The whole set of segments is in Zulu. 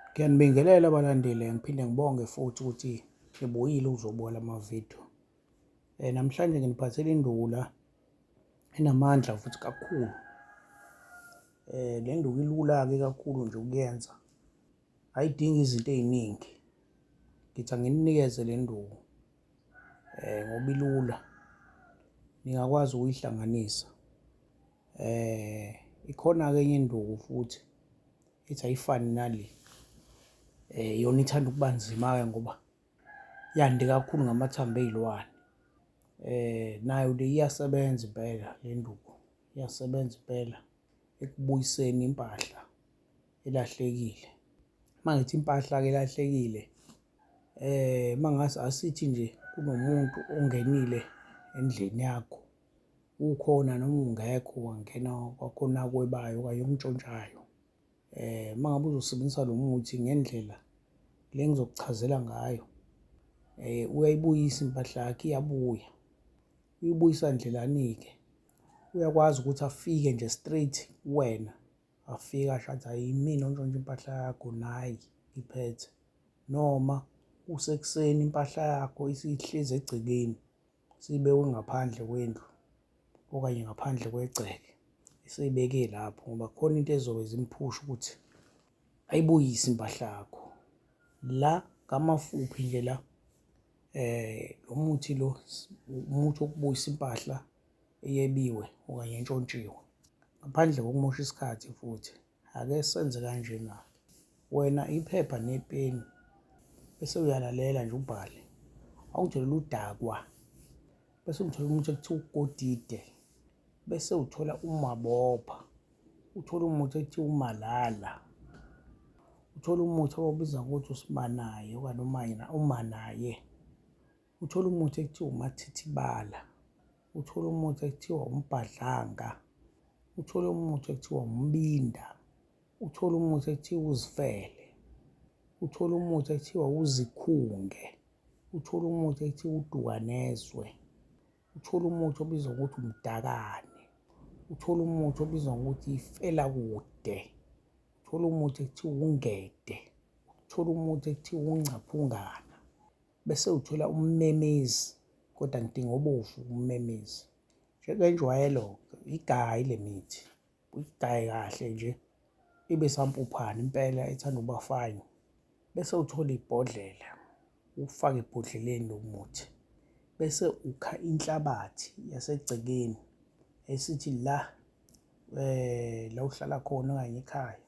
Ngiyanibingelela abalandeli ngiphinde ngibonge futhi ukuthi ngibuyile uzobola amavidiyo. Eh namhlanje nginiphathele indula enamandla futhi kakhulu. Eh le nduku ilula ke kakhulu nje ukuyenza. Ayidingi izinto eziningi. Ngithi anginikeze le nduku. Eh ngoba ilula. Ningakwazi ukuyihlanganisa. Eh ikhona ke enye induku futhi ithi ayifani nale um yona ithanda ukuba nzima-ke ngoba yande kakhulu ngamathambo ey'lwane um nayo le iyasebenza impela le nduku iyasebenza impela ekubuyiseni impahla elahlekile uma ngithi impahla-ke elahlekile um uma ngase asithi nje kunomuntu ongenile endlini yakho ukhona noma ungekho wangena kwakhona akwebayo okanye umntshontshayo eh uma ngabe uzosebenzisa lo muthi ngendlela le ngizokuchazela ngayo eh uyayibuyisa impahla yakhe iyabuya uyibuyisa ndlelani-ke uyakwazi ukuthi afike nje straight kuwena afike asho athi hayi imina ontshontsha impahla yakho nayi ngiphethe noma usekuseni impahla yakho isihlezi egcekeni siyibekwe ngaphandle kwendlu okanye ngaphandle kwegceke eseyibeke lapho ngoba khona into ezobe zimphusha ukuthi ayibuyise impahla yakho la kamafuphi nje la eh lo muthi lo umuthi okubuyisa impahla eyebiwe okanye entshontshiwe ngaphandle kokumosha isikhathi futhi Ake senze kanjena. Wena iphepha nepeni bese uyalalela nje ubhale. Awungitshela udakwa. Bese ungithola umuntu ekuthiwa uGodide. Bese uthola uMabopha. Uthola umuntu ekuthiwa uMalala. Uthola umuthi abawubiza ngokuthi uSimanaye okanye uManaye. uthole umuthi ekuthiwa umathithibala uthole umuthi ekuthiwa umbhadlanga uthole umuthi ekuthiwa umbinda uthole umuthi ekuthiwa uzifele uthole umuthi ekuthiwa uzikhunge uthole umuthi ekuthiwa udukanezwe uthole umuthi obizwa ngokuthi umdakane uthole umuthi obizwa ngokuthi ifela kude uthole umuthi ekuthiwa ungede uthole umuthi ekuthiwa ungcaphungana bese uthola ummemezi kodwa ngidinga obovu ummemezi njengenjwayelo igayi le mithi uyigaye kahle nje ibe sampuphana impela ethanda ukuba fine bese uthola ibhodlela ufake ebhodleleni lomuthi bese ukha inhlabathi yasegcekeni esithi la eh la uhlala khona okanye ekhaya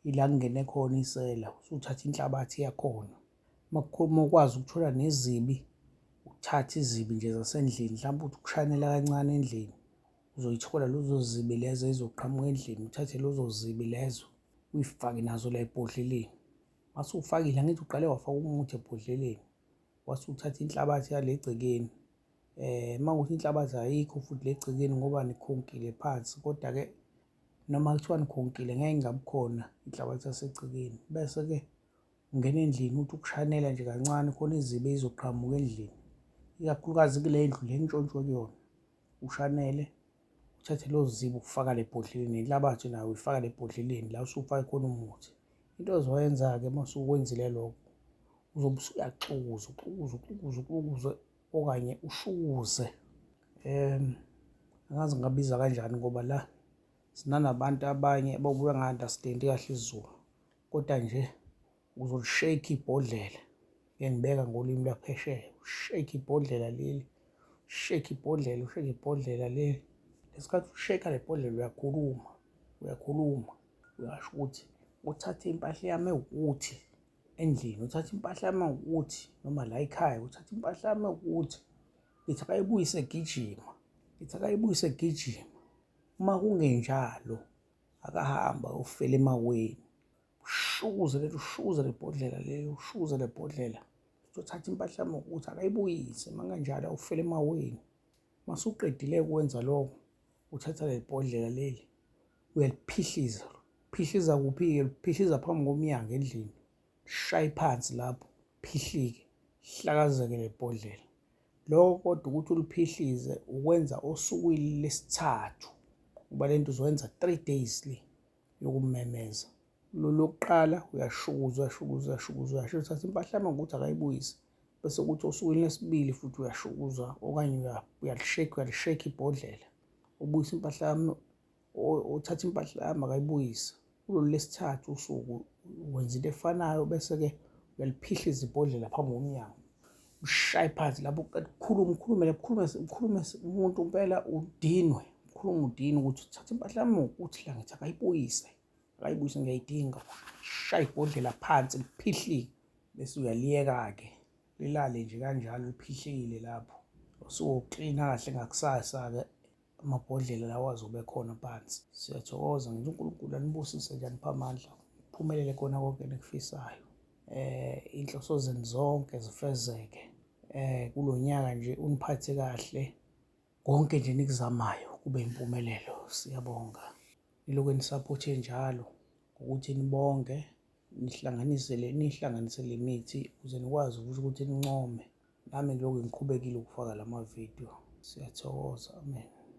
ila kungene khona isela usuthatha inhlabathi yakhona makukhuluma ukwazi ukuthola nezibi uthathe izibi nje zasendlini mhlawumbe uthi ukushanela kancane endlini uzoyithola lezo zibi lezo ezizoqhamuka endlini uthathe lezo zibi lezo uyifake nazo la ebhodleleni mase ufakile angithi uqale wafaka umuthi ebhodleleni wase uthatha inhlabathi yale gcekeni um uma kuthi inhlabathi ayikho futhi le gcekeni ngoba nikhonkile phansi kodwa-ke noma kuthiwa nikhonkile ngeke ingabi khona inhlabathi yasegcekeni bese-ke ungena endlini uthi ukushanela nje kancane khona izibe izoqhamuka endlini ikakhulukazi kule ndlu le ntshontshwe kuyona ushanele uthathe lo zibe ufaka le bhodleleni inhlabathi nayo uyifaka le bhodleleni la usufake khona umuthi into ozoyenza-ke uma usukwenzile lokho uzobe usuyaxukuza uxukuza uxukuza uxukuza okanye ushukuze um angazi ngabiza kanjani ngoba la sinanabantu abanye babuya nga-understandi kahle isiZulu kodwa nje uzolishake ibhodlela engibeka ngolimi lwaphesheya ushake ibhodlela leli ushake ibhodlela ushake ibhodlela leli ngesikhathi usheka le bhodlela uyakhuluma uyakhuluma uyasho ukuthi uthathe impahla yami ewukuthi endlini uthatha impahla yami ukuthi noma la ekhaya uthatha impahla yami ukuthi ngithi akayibuyise gijima ngithi akayibuyise gijima uma kungenjalo akahamba ufela emaweni ushukuze lento ushukuze le bhodlela leyo ushukuze le bhodlela uthatha impahla yami ukuthi akayibuyise uma kanjalo ufela emaweni masuqedile ukwenza lokho uthatha le bhodlela leli uyaliphihliza phihliza kuphi-ke phihliza phambi komnyango endlini shaye phansi lapho phihlike hlakazeke lebhodlela lokho kodwa ukuthi uliphihlize ukwenza osukwini lesithathu kuba le nto uzowenza three days le yokumemeza lolokuqala uyashukuza uyashukuza uyashukuza uyasho uthatha impahla yami ngokuthi akayibuyise bese kuthi osukwini lesibili futhi uyashukuza okanye uyalishekha uyalishekha ibhodlela ubuyisa impahla yami uthatha impahla yami akayibuyise kulolu lesithathu usuku wenza into efanayo bese-ke uyaliphihliza ibhodlela phambi komnyango ushaye phansi lapho kukhulume ukhulumele kukhulume ukhulume umuntu impela udinwe ukhulume udinwe ukuthi uthatha impahla yami ukuthi la ngithi akayibuyise akayibuyise ngiyayidinga shaye ibhodlela phansi liphihlike bese uyaliyeka-ke lilale nje kanjalo liphihlile lapho usuwoklina kahle ngakusasa-ke amabhodlela lawa azobe khona phansi siyathokoza ngithi unkulunkulu anibusise nje anipha amandla phumelele kona konke enikufisayo eh inhloso zenu zonke zifezeke eh kulo nyaka nje uniphathe kahle konke nje nikuzamayo kube impumelelo siyabonga nilokhu nisapothe njalo ukuthi nibonge nihlanganise le nihlanganise le mithi ukuze nikwazi ukuthi nincome nami ngilokhu ngiqhubekile ukufaka lama video siyathokoza amen